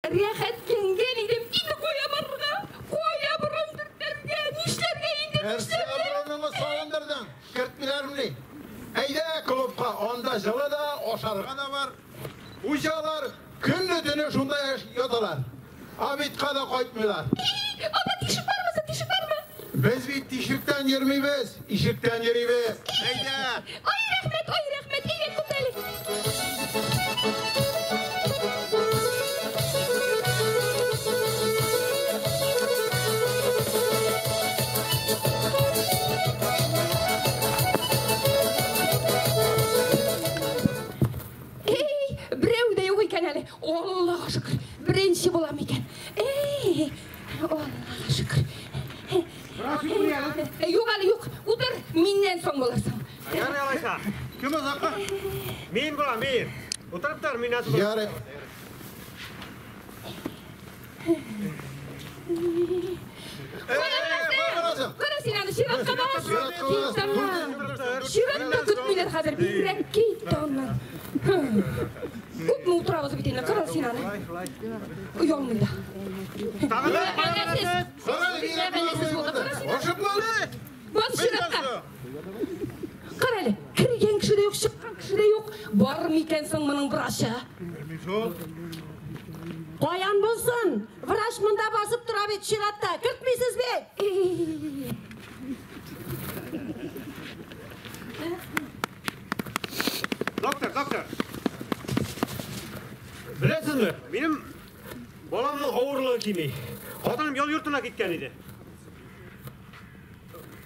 Рәхәт киенгән идем, инде кая барырга? Кая борын төртәргә? Нишләргә инде? Нәрсә борыныңны салындырдың? Кертмиләрмени? Әйдә клубка, анда җылы да, ашарга да бар. Хуҗалар көнне-төне шунда яталар. Обедка да кайтмыйлар. Анда тишек бармы соң, тишек бармы? Без бит тишектән йөрмибез. Ишектән йөрибез. Әйдә! Ай, рәхмәт, ай, рәхмәт, әйдә, күп Эй, берәү дә юк икән әле. Аллага шөкер, беренче булам икән. Эй! Юк әле юк, утыр, миннән соң буласың. Ярый алайса. Кем озакка? Мин була, мин. Утырып тор, миннән соң. Ярый. Кара син аны чиратка бас. Чиратка көтмиләр хәзер, бигрәк кит таңнан. Күпме утырабыз бит инде, кара син аны. Оялмый да. Бат чиратта. Кара әле, кергән кеше дә юк, чыккан кеше дә юк. Бар микән соң моның врачы? Каян булсын? Врач монда басып тора бит чиратта. Кертмисез бит. Доктор, доктор. Беләсезме, минем баламның авырлыгы кими. Хатыным ял йортына киткән иде.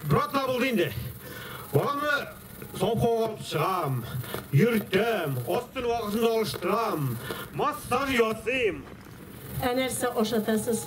Брат та булды инде. Баламны савхога алып чыгам, йөртәм, астын вакытында алыштырам, массаж ясыйм. Ә нәрсә ашатасыз?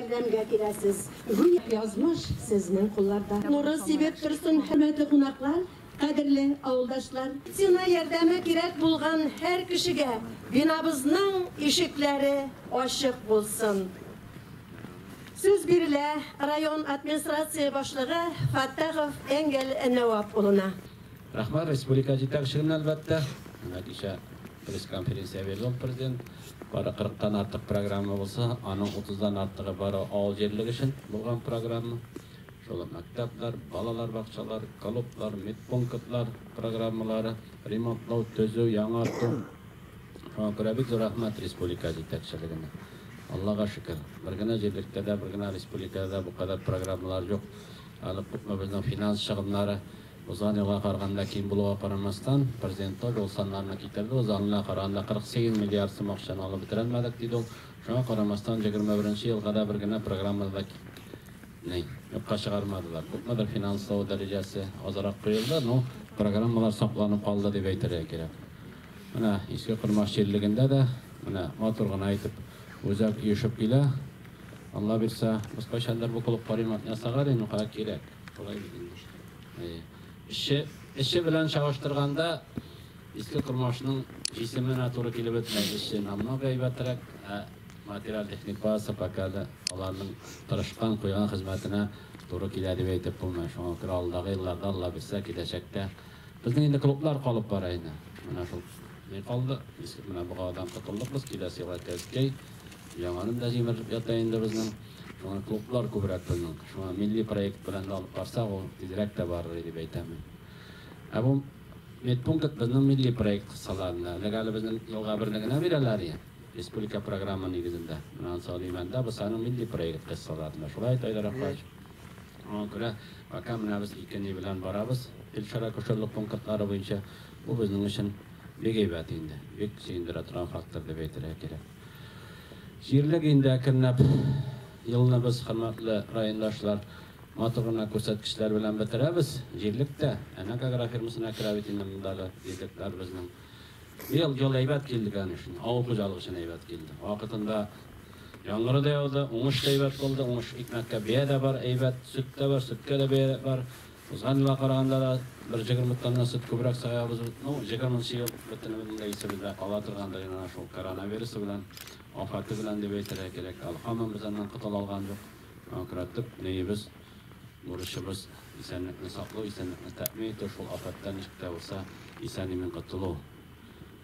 ярдәмгә киләсез. Гүя язмыш сезнең кулларда. Нуры сибеп торсын, хөрмәтле кунаклар, кадерле авылдашлар. Сина ярдәме кирәк булган һәр кешегә бинабызның ишекләре ачык булсын. Сүз бирелә район администрация башлыгы Фаттахов Энгель Нәвап улына. Рәхмәт республика җитәкчелегенә, әлбәттә. Менә кичә пресс-конференция бирде ул президент. Бары 40 тан артык программа булса, аның 30 дан артыгы бары авыл җирлеге өчен булган программа. Шул ук мәктәпләр, балалар бакчалар, клублар, медпунктлар программалары, ремонтлау, төзү, яңарту. Шуңа күрә бик зур рәхмәт республика җитәкчелегенә. Аллага шөкер, бер генә җирлектә дә, бер генә республикада да бу кадәр программалар юк. Әле күпме безнең финанс чыгымнары узган елга караганда ким булуга карамастан, Президент тоже ул саннарны китерде, узган елга караганда 48 миллиард сум акчаны алып бетерәлмәдек, диде ул. Шуңа карамастан, 21 елга да бер генә программаны да китми, юкка чыгармадылар. Күпмедер финанслау дәрәҗәсе азрак куелды, но программалар сакланып калды дип әйтергә кирәк. Менә Иске Кормаш җирлегендә дә менә матур гына итеп үзәк оешып килә. Алла бирсә, без кайчандыр бу клубка ремонт ясарга инде кая кирәк. Болай инде. Эше, эше белән чагыштырганда Иске Кормашның җисеменә туры килеп бетмәс эше намного әйбәтрәк, ә материаль техник базасы пока да аларның тырышкан куйган хезмәтенә туры килә дип әйтеп булмый. Шуңа күрә алдагы елларда Алла бирсә, киләчәктә Безнең инде клублар калып бара иде. Менә шул ни калды, иске менә богадан котылдык без, киләсе елга Кәзкәй, яңадан да җимерелеп ята инде безнең. Шуңа клублар күбрәк безнең. Шуңа милли проект белән дә алып барсак, ул тизрәк тә барыр иде дип әйтәм мин. Ә бу медпункт безнең милли проект кысаларында. Элек әле безнең елга берне генә бирәләр иде, республика програмы нигезендә. Менә анысы Алимәндә, бусы аның милли проект кысаларында. Шулай итә иде, Рафаич? Шуңа күрә пока менәбез ике ни белән барабыз, фельдшер-акушерлык пунктлары буенча. Бу безнең өчен бик әйбәт инде, бик сөендерә торган фактор дип әйтергә кирәк. Җирлек инде әкренләп елны без, хөрмәтле райондашлар, матур гына күрсәткечләр белән бетерәбез. Җирлек тә әнәк агрофирмасына керә бит инде монда әле җирлекләр безнең. Ел, ел әйбәт килде, конечно. Авыл хуҗалык өчен әйбәт килде. Вакытында яңгыры да яуды, уңыш та әйбәт булды. Уңыш икмәккә бәя дә бар, әйбәт, сөт тә бар, сөткә дә бәя бар. Узган елга караганда да бер җегерме тонна сөт күбрәк саябыз бит. Ну, җигерменче ел бөтенебезнең дә исебездә кала торган да янә шул коронавирусы белән, афаты белән дип әйтергә кирәк. Әле һаман без аннан котыла алган юк. Күрә төп ниебез. Бурычыбыз, исәнлекне саклау, исәнлекне тәэмин итү, шул афәттән ничек тә булса исән-имин котылу.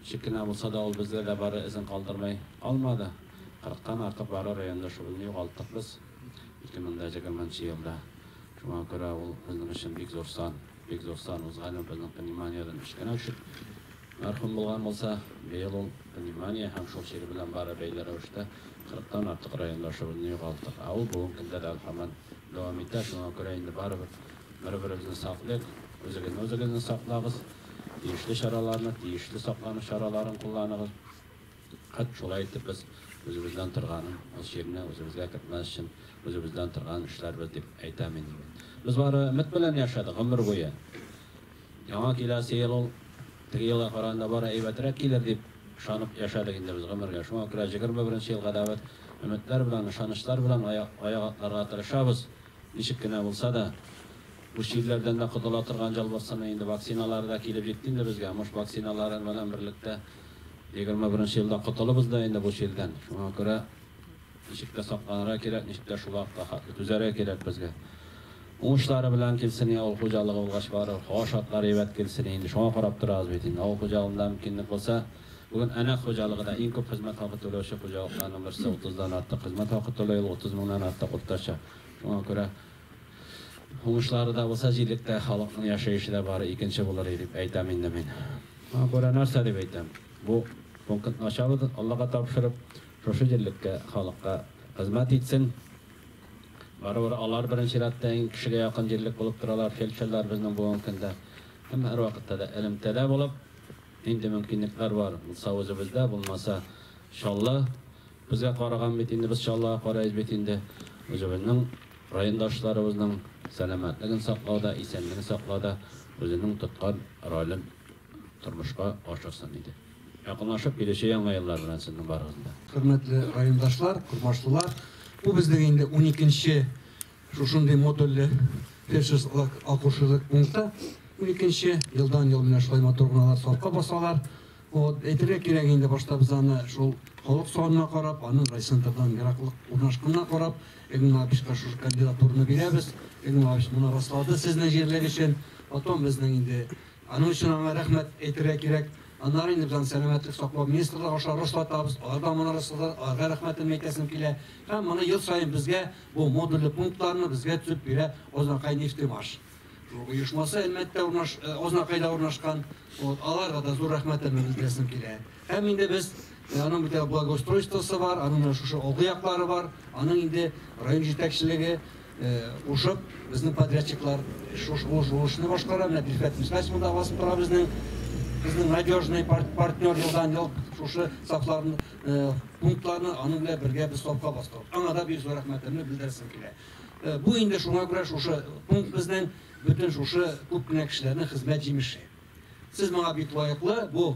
Ничек кенә булса да, ул бездә дә бары эзен калдырмый калмады. Кырыктан артык бары районда шуны югалттык без 2020 нче елда. Шуңа күрә ул безнең өчен бик зур сан. Бик зур сан узган ел безнең пневмониядән өч кенә үсек мәрхүм булган булса, быел ул пневмония һәм шул чир белән бары бәйле рәвештә кырыктан артык райондашыбызны югалттык. Ә ул бүгенге көндә дә һаман дәвам итә. Шуңа күрә инде барыбер бер-беребезне саклыйк, үзегезне үзегезне саклагыз, тиешле чараларны, тиешле саклану чараларын кулланыгыз. Хәт шулай итеп без үзебездән торган җирне үзебезгә кертмәс өчен үзебездән торган эшләрбез дип әйтәм инде мин. Без бары өмет белән яшәдек гомер буе. Яңа киләсе ел ул теге елга караганда бары әйбәтрәк килер дип ышанып яшәдек инде без гомергә. Шуңа күрә 21 елга да без өметләр белән, ышанычлар белән аяк атларга тырышабыз. Ничек кенә булса да, бу чирләрдән дә котыла торган җал бассыны инде. Вакциналары да килеп җитте инде безгә. Мыш вакциналары белән берлектә, Егерме беренче елда котылыбыз да инде бу чирдән. Шуңа күрә ничек тә сакланырга кирәк, ничек тә шул вакытка хәтле түзәргә кирәк безгә. Уңышлары белән килсен и авыл хуҗалыгы булгач барыбер, һава шартлары әйбәт килсен инде, шуңа карап торабыз бит инде. Авыл хуҗалыгында мөмкинлек булса, бүген Әнәк хуҗалыгы да иң күп хезмәт хакы түләүче хуҗалыкларның берсе, утыздан артык хезмәт хакы түләй ул, утыз меңнән артык уртача. Шуңа күрә Уңышлары да булса, җирлектә халыкның яшәеше дә бары икенче булыр дип әйтәм инде мин. Аңа күрә нәрсә дип әйтәм, бу пунктны ачабыз, Аллага тапшырып, шушы җирлеккә, халыкка хезмәт итсен. Барыбер алар беренче рәттә иң кешегә якын җирлек булып торалар, фельдшерлар безнең бүгенге көндә. Әмма һәрвакытта да элемтәдә булып, нинди мөмкинлекләр бар, булса үзебездә, булмаса Чаллы Безгә караган бит инде, без Чаллыга карыйбыз бит инде. Үзебезнең райондашларыбызның сәламәтлеген саклауда, исәнлеген саклауда үзенең тоткан ролен тормышка ашырсын иде. Якынлашып килүче Яңа еллар белән сезнең барыгызны да! Хөрмәтле райондашлар, курмашлылар, бу безнең инде уникенче шушындый модульле фельдшерлык-акушерлык пункты. Уникенче. Елдан-ел менә шулай матур гына алар сафка басалар. Вот, әйтергә кирәк инде, башта без аны шул халык санына карап, аның райцентрдан ераклык урнашканына карап, Игнат Лапичка шушы кандидатураны бирәбез. Игнат Лапич моны раслады сезнең җирлек өчен. Потом безнең инде аның өчен аңа рәхмәт әйтергә кирәк. Аннары инде без сәламәтлек саклау министрлыгы аша раслатабыз. Алар да моны раслады, аларга рәхмәтен әйтәсем килә. Һәм моны ел саен безгә бу модульле пунктларны безгә төзеп бирә Азнакай нефтемаш. оешмасы Әлмәттә урнаш, э, Азнакайда урнашкан. Вот, аларга да зур рәхмәтемне белдерәсем килә. Һәм инде без э, аның бит благоустройствосы бар, аның шушы алгы яклары бар. Аның инде район җитәкчелеге э, ушып, безнең подрядчиклар шушы ошны башкара. Менә Бифәт Мискась монда басып тора безнең безнең надежный партнер елдан ел шушы сафларны пунктларны аның белән бергә без сафка бастык. Аңа да бик зур рәхмәтемне белдерәсем килә. Бу инде шуңа күрә шушы пункт безнең бөтен шушы күп кенә кешеләрнең хезмәт җимеше. Сез моңа бик лаеклы, бу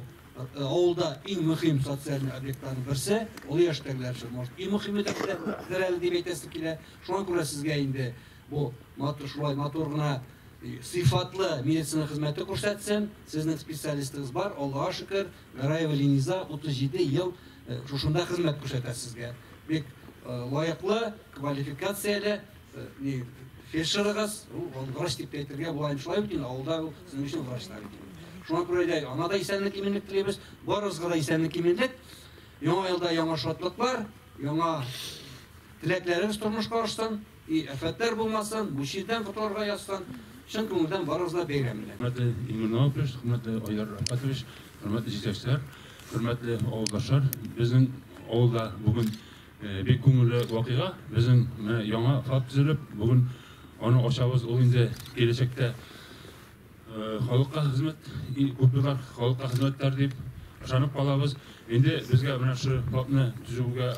авылда иң мөһим социальный объектларның берсе, олы яшьтәгеләр өчен, может, иң мөһиме дә дидер әле дип әйтәсе килә. Шуңа күрә сезгә инде бу матур шулай матур гына сыйфатлы медицина хезмәте күрсәтсен. Сезнең специалистыгыз бар, Аллага шөкер, Гараева Линиза 37 ел шушында хезмәт күрсәтә сезгә. Бик лаеклы, квалификацияле фельдшерыгыз, ул врач дип әйтергә була, шулай бит инде авылда ул сезнең өчен врачлар бит. Шуңа күрә дә ана да исәнлек иминлек телибез, барыгызга да исәнлек иминлек. Яңа елда яңа шатлыклар, яңа теләкләрегез тормышка ашсын. И афәтләр булмасын, бу чирдән котылырга язсын, чын күңелдән барыгызны бәйрәм белән! Хөрмәтле Илмир Наупеш, хөрмәтле Айдар Рәфкатович, хөрмәтле җитәкчеләр, хөрмәтле авылдашлар! Безнең авылда бүген бик күңелле вакыйга, безнең менә яңа ФАП төзелеп, бүген аны ачабыз, ул инде киләчәктә халыкка хезмәт, күпьеллар халыкка хезмәт итәр дип ышанып калабыз. Инде безгә менә шул ФАПны төзүгә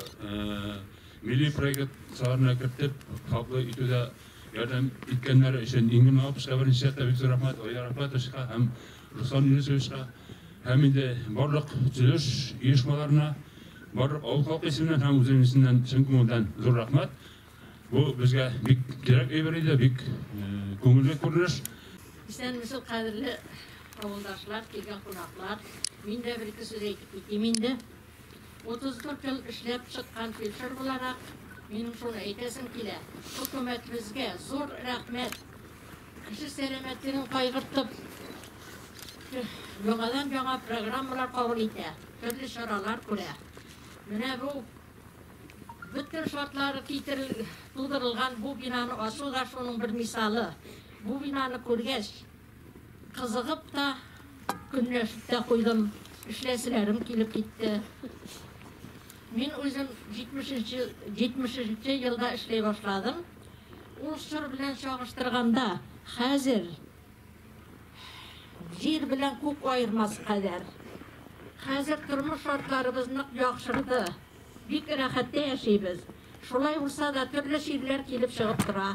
Милли проектларына кертеп, хаклы итүдә ярдәм иткәннәре өчен Ингин Мамапычка беренче чиратта бик зур рәхмәт, Айдар Әхмәтовичка һәм Руслан Юнысовичка һәм инде барлык төзелеш оешмаларына, барлык авыл халкы исеменнән һәм үзем исеменнән чын күңелдән зур рәхмәт. Бу безгә бик кирәк әйбер иде, бик күңелле күренеш. Исәнмесез, кадерле авылдашлар, килгән кунаклар. Мин дә бер-ике сүз әйтеп китим инде. 34 ел эшләп чыккан фельдшер буларак, минем шуны әйтәсем килә, хөкүмәтебезгә зур рәхмәт! Кеше сәламәтлеген кайгыртып, яңадан-яңа программалар кабул итә, төрле чаралар күрә. Менә бу бөтен шартлары китерел, тудырылган бу бинаны ачу да шуның бер мисалы. Бу бинаны күргәч, Кызыгып та, көнләшеп тә куйдым. Эшләселәрем килеп китте. Мин үзем 70-нче елда эшли башладым. Ул чор белән чагыштырганда, хәзер җир белән күк аермас кадәр. Хәзер тормыш шартларыбыз нык яхшырды. Бик рәхәттә яшибез. Шулай булса да, төрле чирләр килеп чыгып тора.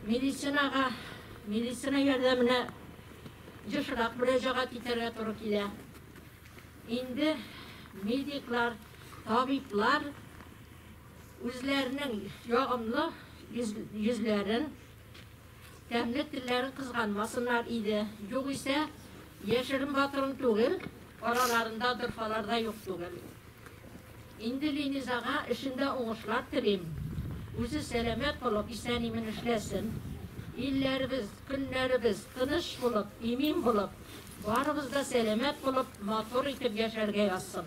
Медицинага, медицина ярдәменә ешрак мөрәҗәгать итәргә туры килә. Инде медиклар, табиблар үзләренең ягымлы йөзләрен, Тәмле телләрен кызганмасыннар иде. Югыйсә, яшерен батырын түгел, араларында дырфалар да юк түгел. Инде Линизага эшендә уңышлар телим. Үзе сәламәт булып, исән-имин эшләсен. Илләребез, көннәребез тыныч булып, имин булып, барыбыз да сәламәт булып, матур итеп яшәргә язсын.